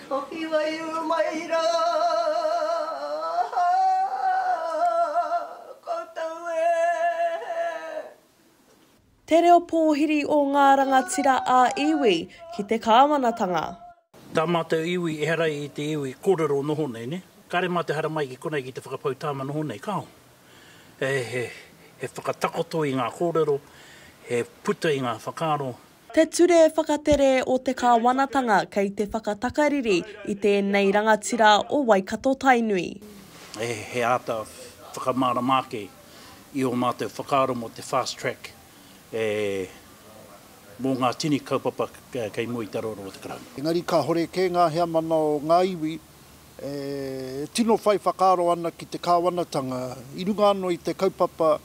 Hoki wai uru mai ra koutou e. Te reo pōhiri o ngā rangatira ā iwi ki te kāwanatanga. Tā mātou iwi ehara i te iwi kōrero noho nei, nē? Kāre mātou haramai ki konei ki te whakapau tāma noho nei, kāo? He whakatakoto i ngā kōrero, he puta i ngā whakaaro, Te Ture Whakatere o te Kāwanatanga kei te whakatakariri i tēnei rangatira o Waikato-Tainui. He āta whakamārama ake i ō mātou whakaaro mō te Fast Track mō ngā tini kaupapa kei mua i te aroaro o te Karauna. Engari kāhore kē ngā heamana o ngā iwi e tino whai whakaaro ana ki te Kāwanatanga i runga anō i te kaupapa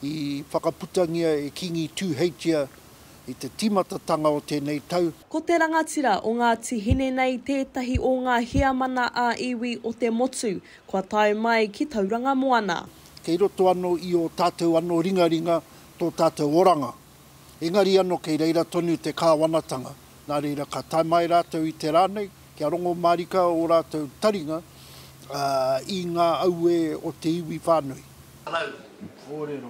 i whakaputangia e Kīngi Tūheitia i te timatatanga o tenei tau. Ko te rangatira o Ngati Hine nei tētahi o nga heamana a iwi o te motu kua tae mai ki Tauranga Moana. Kei roto ano i o tatou ano ringaringa to tatou oranga. Engari ano kei reira tonu te kawanatanga, na reira ka tae mai ratou i te ra nei, Kia rongo mārika ō rātou taringa i ngā auē o te iwi whānui. Hello.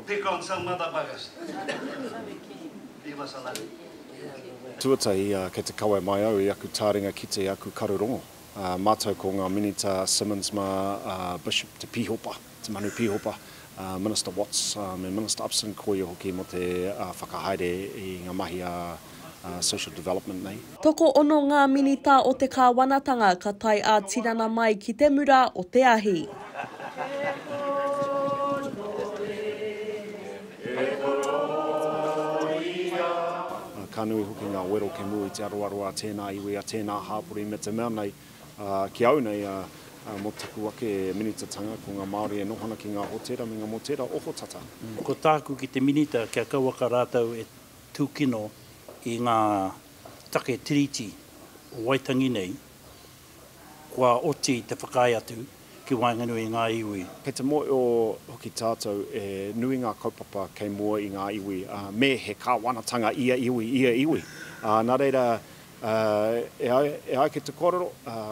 Pick on some motherfuckers. Leave us alone. Tuatahi, kei te kawe mai au i aku tāringa ki te aku karu rongo. Mātou ko ngā Minita Simmonds mā Bishop Te Pīhopa. Te Manu Pīhopa, Minister Watts me Minister Upson ko ia hoki mō te whakahaere i ngā mahi a Social Development nei. Tokoono ngā Minita o te Kāwanatanga ka tae ā-tinana mai ki te mura o te ahi. Ka nui hoki ngā wero kemu i te aroaro a tēnā iwi, a tēnā hāpori me te mea nei. Ki au nei, mō taku ake minitatanga, ko ngā Māori e noho ana ki ngā hōtēra me ngā mōtēra ohotata. Ko tāku ki te minita kia kauaka rātou e tūkino i ngā take Tiriti o Waitangi nei, kua oti te whakaae atu ki waenganui i ngā iwi. Kei te mōhio hoki tātou e nui ngā kaupapa kei mua i ngā iwi, me he kāwanatanga ia iwi, ia iwi. Nā reira, E ai, e ai ki te kōrero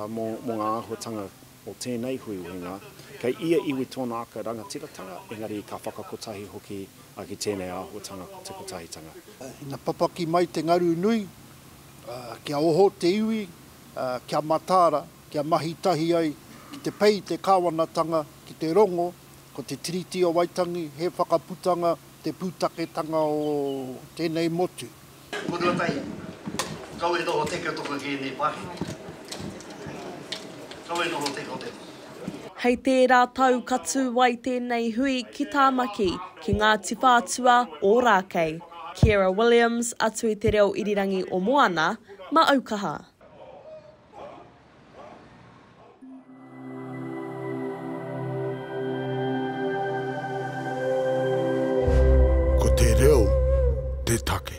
mō ngā āhuatanga o tēnei huihuinga, kei ia iwi tōna ake rangatiratanga, engari ka whakakotahi hoki ki tēnei āhuatanga ko te Kotahitanga. Ina papaki mai te ngaru nui, kia oho te iwi, kia mataara, kia mahi tahi ai ki te pei i te kāwanatanga, ki te rongo, ko te Tiriti o Waitangi he whakaputanga, te pūtaketanga o tēnei motu. Ko Ruatahi, kau e noho teke o toku ki enei pakihi. Kau e noho teke o te. Hei tērā tau ka tū ai tēnei hui ki Tāmaki, ki Ngāti Whātua, Ōrākei. Kiera Williams, atu i te reo irirangi o Moana, Maaukaha. Ko te reo te take.